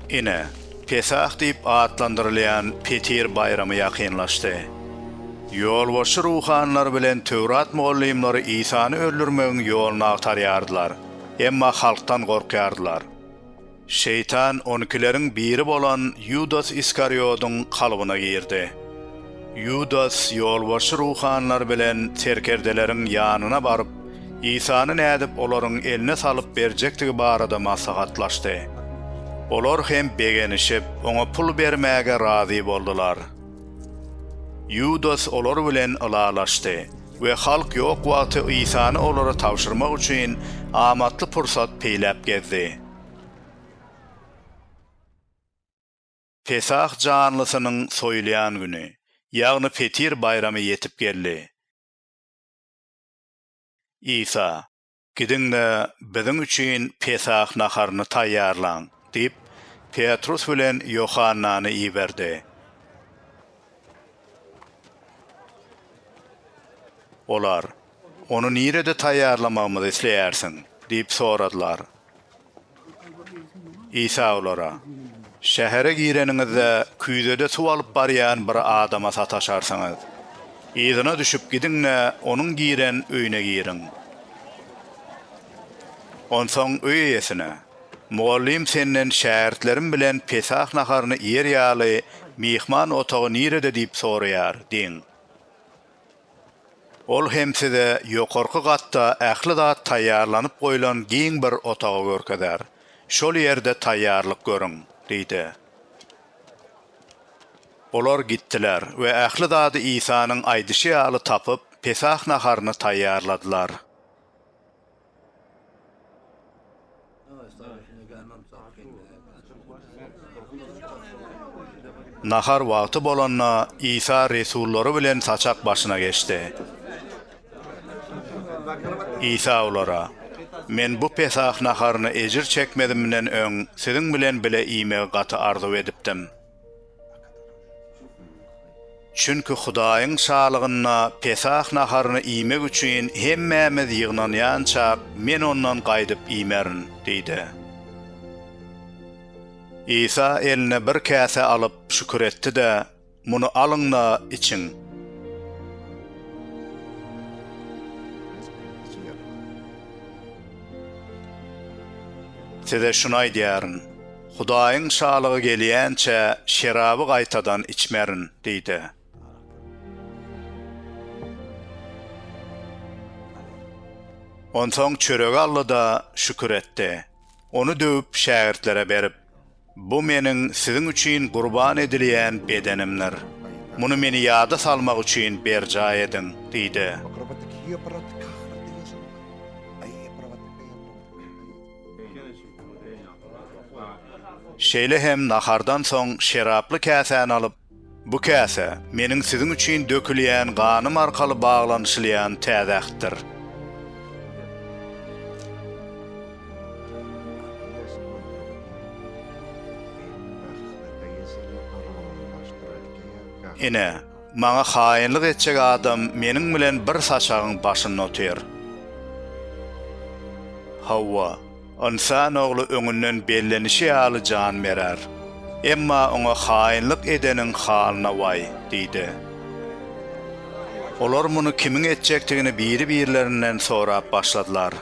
Ine, Pesah diýip atlandyrylýan Petir baýramy ýakynlaşdy. Ýolbaşçy ruhanylar bilen Töwrat mugallymlary Isany öldürmegiň ýoluny agtarýardylar, emma halkdan gorkýardylar. Şeýtan on ikileriň biri bolan Ýudas Iskariýodyň kalbyna girdi. Ýudas ýolbaşçy ruhanylar bilen serkerdeleriň ýanyna baryp, Isany nädip olaryň eline salyp berjekdigi barada maslahatlaşdy. Olar hem begenişip, oňa pul bermäge razy boldular. Ýudas olar bilen ylalaşdy we halk ýok wagty Isany olara tabşyrmak üçin amatly pursat peýläp gezdi. Pesah janlysynyň soýulýan güni, ýagny Petir baýramy ýetip geldi. Isa, Gidiň-de, biziň üçin Pesah naharyny taýýarlaň! diýip, Petrus bilen Ýohannany iberdi. Olar, Ony nirede taýýarlamagymyzy isleýärsiň? diýip soradylar. Isa olara, Şähere gireniňizde, küýzede suw alyp barýan bir adama sataşarsyňyz. Yzyna düşüp gidiň-de, onuň giren öýüne giriň. Onsoň öý eýesine, Mugallym senden şägirtlerim bilen Pesah naharyny iýer ýaly, myhman otagy nirede diýip soraýar diýiň. Ol hem size ýokarky gatda ähli zat taýýarlanyp goýlan giň bir otagy görkezer. Şol ýerde taýýarlyk görüň, diýdi. Olar gitdiler we ähli zady Isanyň aýdyşy ýaly tapyp, Pesah naharyny taýýarladylar. Nahar wagty bolanda, Isa resullary bilen saçak başyna geçdi. Isa olara, Men bu Pesah naharyny ejir çekmezimden öň siziň bilen bile iýmegi gaty arzuw edipdim. Çünki Hudaýyň Şalygynda Pesah naharyny iýmek üçin hemmämiz ýygnanýançak, men ondan gaýdyp iýmerin diýdi. Isa eline bir käse alyp, şükür etdi-de, Muny alyň-da, içiň. Size şuny aýdýaryn. Hudaýyň Şalygy gelýänçä şeraby gaýtadan içmerin diý-de. Onsoň çöregi aldy-da, şükür etdi. Ony döwüp, şägirtlere berip, Bu Meniň siziň üçin gurban edilýän bedenimdir. Muny Meni ýada salmak üçin berjaý ediň diýdi. Şeýle hem nahardan soň şeraply käsäni alyp, Bu käse, Meniň siziň üçin dökülýän ganym arkaly baglanyşylýan Täze Ähtdir. Ine, Maňa haýynlyk etjek adam meniň bilen bir saçagyň başynda otyr. Hawa, ynsan ogly öňünden bellenişi ýaly jan berer. Emma oňa haýynlyk edeniň halyna waý! diýdi. Olar muny kimiň etjekdigini biri-birlerinden sorap başladylar.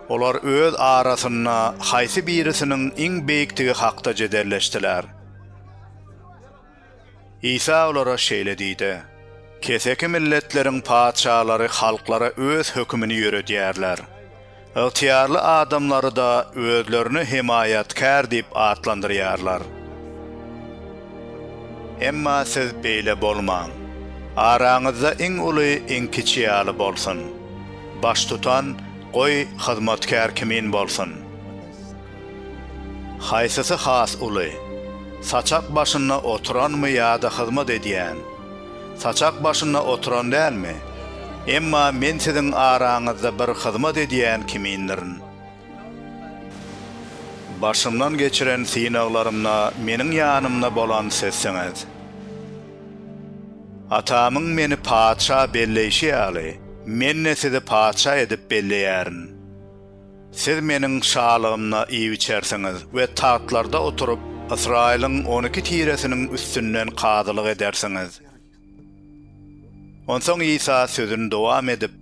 Olar öz arasynda haýsy birisiniň iň beýikdigi hakda jedelleşdiler. Isa olara şeýle diýdi, Keseki milletleriň patyşalary halklara öz hökümini ýöredýärler. Ygtyýarly adamlary-da özlerini hemaýatkär diýip atlandyrýarlar. Emma siz beýle bolmaň. Araňyzda iň uly iň kiçi ýaly bolsun. Baştutan, goý, hyzmatkär kimin bolsun. Haýsysy has uly? Saçak başynda oturanmy ýa-da hyzmat edýän? Saçak başynda oturan dälmi? Emma men siziň araňyzda bir hyzmat edýän kimindirin. Başymdan geçiren synaglarymda meniň ýanymda bolan sizsiňiz. Atamyň meni patyşa belleýşi ýaly, men-de sizi patyşa edip belleýärin. Siz Meniň şalygymda iýip-içersiňiz we tagtlarda oturyp, Ysraýylyň on iki tiresiniň üstünden kazylyk edersiňiz. Onsoň Isa sözüni dowam edip,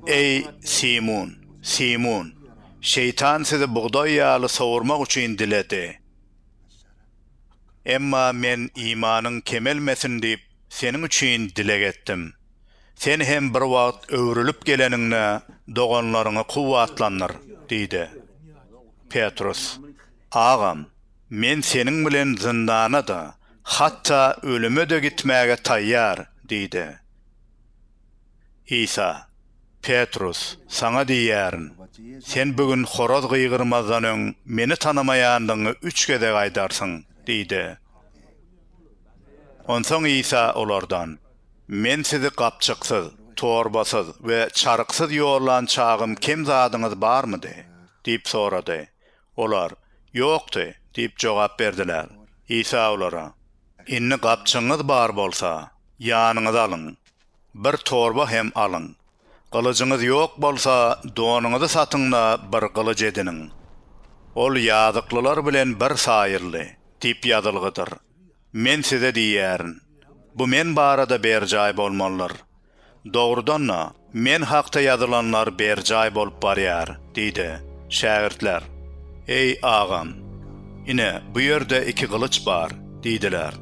Eý, Simun, Simun, Şeýtan sizi bugdaý ýaly sowurmak üçin diledi. Emma Men imanyň kemelmesin diýip, seniň üçin dileg etdim. Sen hem bir wagt öwrülip geleniňde doganlaryňy kuwwatlandyr, diýdi. Petrus, Agam, men seniň bilen zyndana-da, hatda ölüme-de gitmäge taýýar, diýdi. Isa, Petrus, saňa diýýärin, sen bu gün horaz gygyrmazdan öň Meni tanamaýandygyňy üç gezek aýdarsyň, diýdi. Onsoň Isa olardan. Men sizi gapjyksyz, torbasyz we çaryksyz ýollan çagym kem zadyňyz barmydy? diýip sorady. Olar, Ýokdy diýip jogap berdiler. Isa olara, Indi gapjygyňyz bar bolsa, ýanyňyza alyň. Bir torba hem alyň. Gylyjyňyz ýok bolsa, donuňyzy satyň-da, bir gylyj ediniň. Ol ýazyklylar bilen bir saýyldy diýip ýazylgydyr. Men size diýýärin, bu Men barada berjaý bolmalydyr. Dogrudan-da, Men hakda ýazylanlar berjaý bolup barýar, diýdi. Şägirtler, Eý, Agam, ine, bu ýerde iki gylyç bar, diýdiler.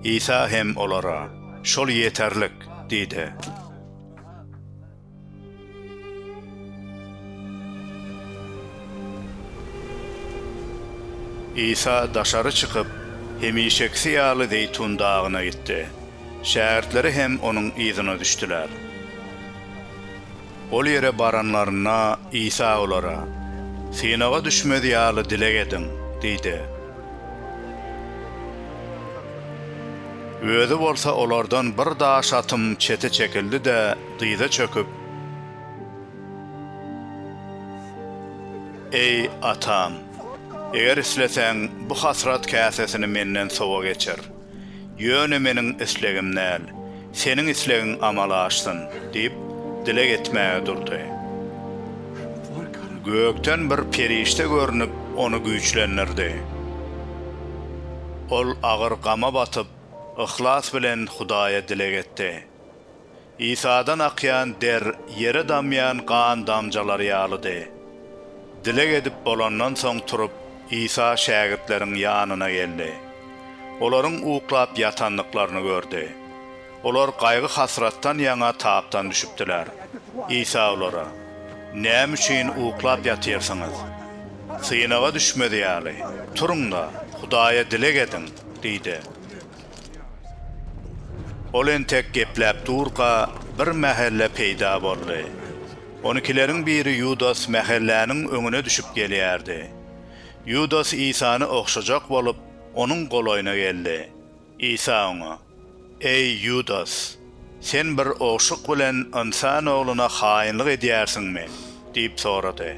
Isa hem olara, Şol ýeterlik, diýdi. Isa daşary çykyp, hemişekisi ýaly Zeýtun dagyna gitdi. Şägirtleri hem Onuň yzyna düşdüler. Ol ýere baranlarynda, Isa olara, Synaga düşmez ýaly dileg ediň! diýdi. Özi bolsa olardan bir daş atymy çete çekildi-de, dyza çöküp, Eý, atam, eger isleseň, bu hasrat käsesini menden sowa geçir. Ýöne meniň islegim däl, seniň islegiň amala aşsyn, diýip, dileg etmäge durdy. Gökden bir perişde görnüp, ony güýçlendirdi. Ol agyr gama batyp, yhlas bilen Hudaýa dileg etdi. Isadan akýan der ýere damýan gan damjalary ýalydy. Dileg edip bolandan soň turup, Isa şägirtleriň ýanyna geldi. Olaryň uklap ýatandyklaryny gördi. Olar gaýgy-hasratdan ýaňa tapdan düşüpdiler. Isa olara, Näme üçin uklap ýatyrsyňyz? Synaga düşmez ýaly, turuň-da, Hudaýa dileg ediň! diýdi. Ol entek gepläp durka, bir mähelle peýda boldy. Onükileriň biri Ýudas mähelläniň öňüne düşüp gelýärdi. Ýudas Isany ogşajak bolup, onuň golaýyna geldi. Isa oňa, Eý, Ýudas! Sen bir ogşuk bilen ynsan ogluna haýynlyk edýärsiňmi? diýip sorady.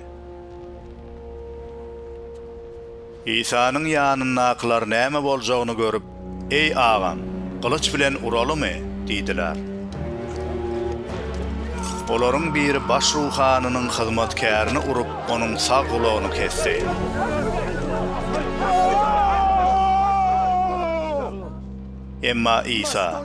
Isanyň ýanyndakylar näme boljagyny görüp, Eý, agam, gylyç bilen uralymy? diýdiler. Olaryň biri baş ruhanynyň hyzmatkärini urup, onuň sag gulagyny kesdi. Emma Isa.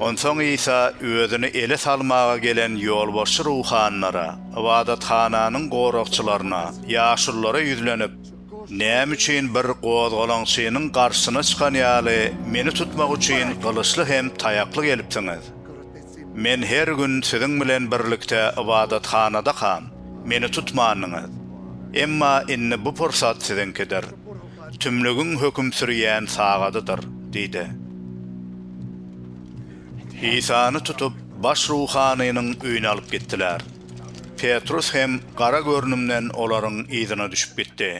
Onsoň Isa özüni ele salmaga gelen ýolbaşçy ruhanylara, ybadathananyň goragçylaryna, ýaşululara ýüzlenip, Näme üçin bir gozgalaňçynyň garşysyna çykan ýaly meni tutmak üçin gylyçly hem taýakly gelipsiňiz? Men her gün siziň bilen birlikde ybadathanadakam, meni tutmandyňyz. Emma indi bu pursat siziňkidir. tümlügiň höküm sürýän sagadydyr diýdi. Isany tutup, baş ruhanynyň öýüne alyp gitdiler. Petrus hem gara görnümden olaryň yzyna düşüp gitdi.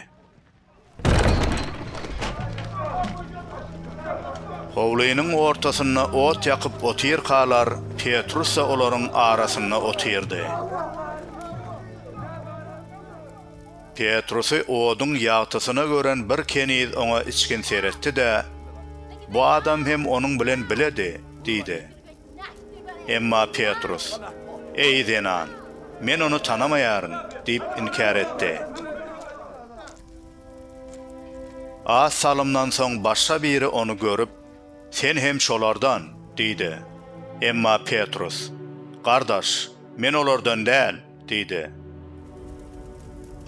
Howlynyň ortasynda ot ýakyp otyrkalar, Petrus-da olaryň arasynda otyrdy. Petrusy oduň ýagtysyna gören bir keniz oňa içgin seretdi-de, Bu adam hem onuň bilen biledi! diýdi. Emma Petrus, Eý, zenan, men ony tanamaýaryn! diýip inkär etdi. Az salymdan soň başga biri ony görüp, Sen hem şolardan! diýdi. Emma Petrus, Gardaş, men olardan däl! Diýdi.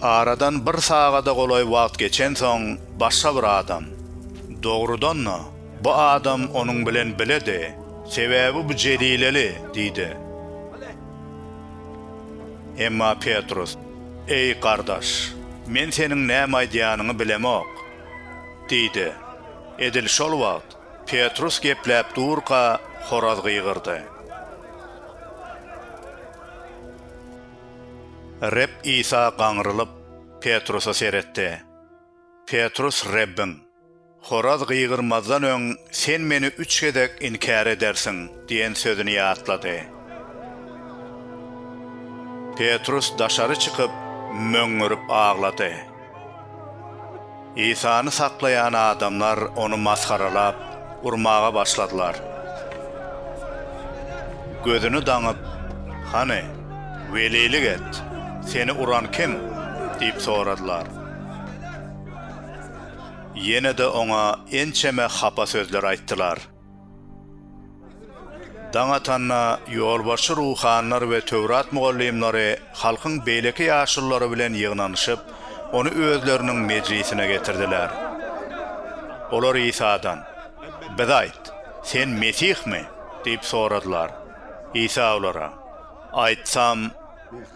Aradan bir sagada golaý wagt geçensoň, başga bir adam, dogrudan-da, bu adam onuň bilen biledi, sebäbi bu jelileli, diýdi. Emma Petrus, Eý, gardaş, men seniň näme aýdýanyňy bilemok, diýdi. Edil şol wagt, Petrus gepläp durka, horaz gygyrdy. Reb Isa gaňrylyp, Petrusa seretdi. Petrus Rebbiň, Horaz gygyrmazdan öň sen Meni üç gezek inkär edersiň diýen sözüni ýatlady. Petrus daşary çykyp, möňňürip aglady. Isany saklaýan adamlar ony masgaralap, urmaga başladylar. Gözüni daňyp, Hany, welilik et, seni uran kim? diýip soradylar. Ýene-de oňa ençeme hapa sözler aýtdylar. Daň atanda, ýolbaşçy ruhanylar we Töwrat mugallymlary halkyň beýleki ýaşululary bilen ýygnanyşyp, ony özleriniň mejlisine getirdiler. Olar Isadan, Bize aýt, sen Mesihmi? diýip soradylar. Isa olara, Aýtsam,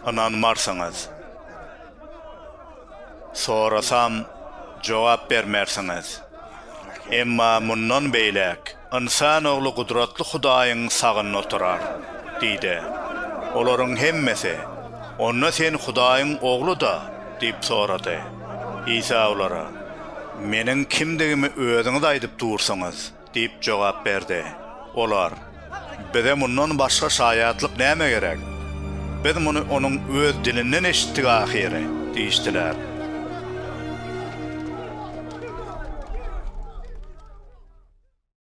ynanmarsyňyz. Sorasam, jogap bermersiňiz. Emma mundan beýläk ynsan ogly gudratly Hudaýyň sagynda oturar, diýdi. Olaryň hemmesi, Onda sen Hudaýyň Ogly-da? diýip sorady. Isa olara, Meniň kimdigimi özüňiz aýdyp dursuňyz. Diýip jogap berdi. Olar, Bize mundan başga şaýatlyk näme gerek? Biz muny onuň öz dilinden eşitdik ahyry! diýişdiler.